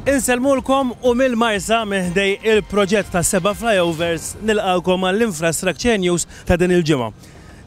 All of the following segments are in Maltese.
Insellmulkom u mill-Marsa meħdej il-proġett ta' seba' flyovers nilqalkom għall-Infrastructure News ta' din il-ġimgħa.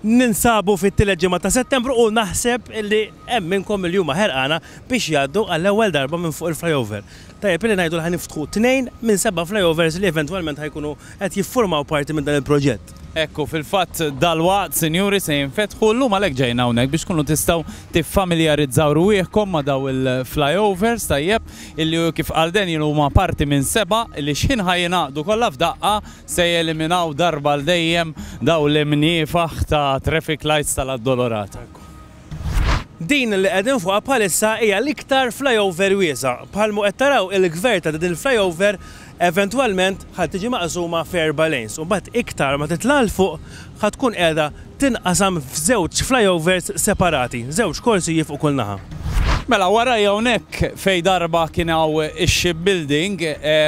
Ninsabu fit-tielet ġimgħa ta' Settembru u naħseb li hemm minnkom il huma ħerqana biex jgħaddu għall-ewwel darba minn fuq il-flyover. Tajjeb li ngħidu li ħa niftħu tnejn minn seba' flyovers li eventwalment ħajkunu qed jiffurmaw parti minn dan il-proġett. Hekk hu fil-fatt, dalwaqt, sinjuri, se jinfetħu, llum għalhekk ġejna hawnhekk biex tkunu tistgħu tiffamiljarizzaw rwieħkom ma' dawn il-flyovers, tajjeb, illi kif qal Daniel huma parti minn seba' li x'ħin ħa jingħaqdu kollha f'daqqa se jeliminaw darba għal dejjem dawn l-imniefaħ ta' traffic lights tal-Addolorata. Din li qegħdin fuqha bħalissa hija l-iktar flyover wiesgħa. Bħal ma qed taraw il-gvern ta' din il-flyover eventwalment ħa tiġi maqsuma f'erba' lanes u mbagħad iktar ma titla' 'l fuq ħa tkun qiegħda tinqasam f'żewġ flyovers separati, żewġ korsijiet fuq kull naħa. Mela warajja hawnhekk fejn darba kien hawn ix-shipbuilding,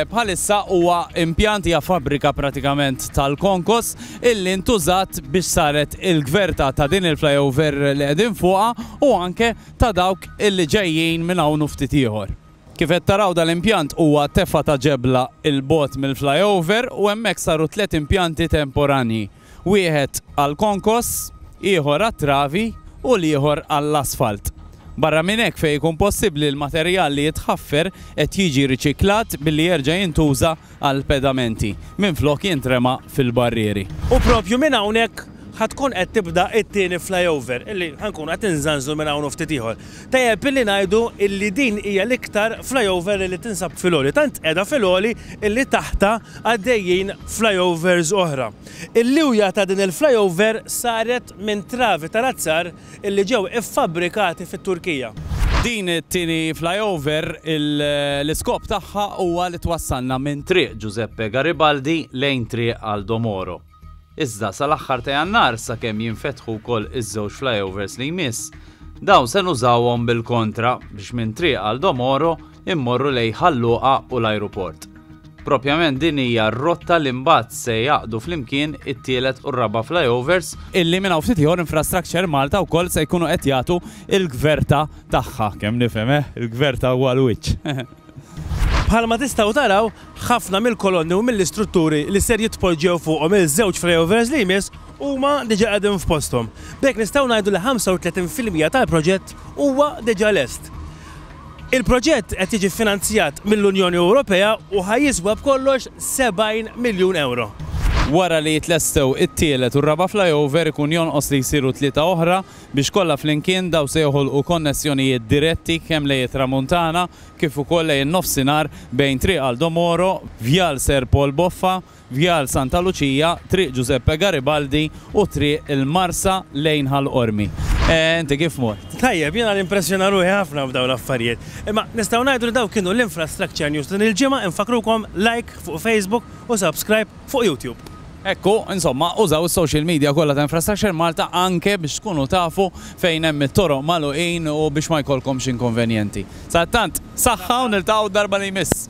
bħalissa huwa impjant, hija fabbrika pratikament tal-konkos. illi ntużat biex saret il-gverta ta' din il-flyover li qegħdin fuqha u anke ta' dawk illi ġejjin minn hawn u ftit ieħor. Kif qed taraw dal-impjant huwa tefgħa ta' ġebla 'l bogħod mill-flyover u hemmhekk saru tliet impjanti temporanji, wieħed għall-konkos, ieħor għat-travi u l-ieħor għall-asfalt. Barra minn hekk fejn ikun possibbli l-materjal li jitħaffer qed jiġi riċiklat billi jerġa' jintuża għall-pedamenti minflok jintrema fil-barrieri. U proprju minn hawnhekk ħa tkun qed tibda t-tieni flyover illi ħa nkunu qed inżanżlu minn hawn u ftit ieħor. Tajjeb illi ngħidu illi din hija l-iktar flyover illi tinsab fil-għoli. Tant qiegħda fil-għoli illi taħtha għaddejjin flyovers oħra. Il-liwja ta' din il-flyover saret minn travi tal-azzar illi ġew iffabbrikati fit-Turkija. Din it-tieni flyover l-iskop tagħha huwa li twassalna minn Triq Giuseppe Garibaldi lejn Triq Aldo Moro. Iżda sal-aħħar ta' Jannar sakemm jinfetħu wkoll iż-żewġ flyovers li jmiss, dawn se nużawhom bil-kontra biex minn Triq Aldo Moro, immorru lejn Ħal Luqa u l-ajruport. Propjament din hija r-rotta li mbagħad se jgħaqqdu flimkien it-tielet u r-raba' flyovers, illi minn hawn ftit ieħor Infrastructure Malta wkoll se jkunu qed jagħtu l-gverta tagħha, kemm nifhem eh, il-gverta huwa l-wiċċ. Bħalma tistgħu taraw, ħafna mill-kolonni u mill-istrutturi li ser jitpoġġew fuqhom iż-żewġ flyovers li jmiss huma diġà qegħdin f'posthom. B'hekk nistgħu ngħidu li 35 fil-mija tal-proġett huwa diġà lest. Il-proġett qed jiġi ffinanzjat mill-Unjoni Ewropea u ħa jiswa b'kollox 70 miljun ewro. Wara li jitlestew it-tielet u r-raba' flyover ikun jonqos li jsiru tlieta oħra biex kollha flimkien dawn se joħolqu konnessjonijiet diretti kemm lejn it-Tramuntana kif ukoll lejn in-Nofsinhar bejn Triq Aldo Moro, Vjal Sir Paul Boffa, Vjal Santa Luċija, Triq Ġużeppe Garibaldi u Triq il-Marsa lejn Ħal Qormi. Inti kif mort? Tajjeb, jiena nimpressjona ruħi ħafna f'dawn l-affarijiet. Imma nistgħu ngħidu li dawk kienu l-Infrastructure News ta' din il-ġimgħa, infakkrukom like fuq Facebook u subscribe fuq YouTube. Hekk hu, insomma, użaw is-social media kollha ta' Infrastructure Malta anke biex tkunu tafu fejn hemm it-toroq magħluqin u biex ma jkollkomx inkonvenjenti. Sadattant, Saħħa u niltaqgħu d-darba li jmiss.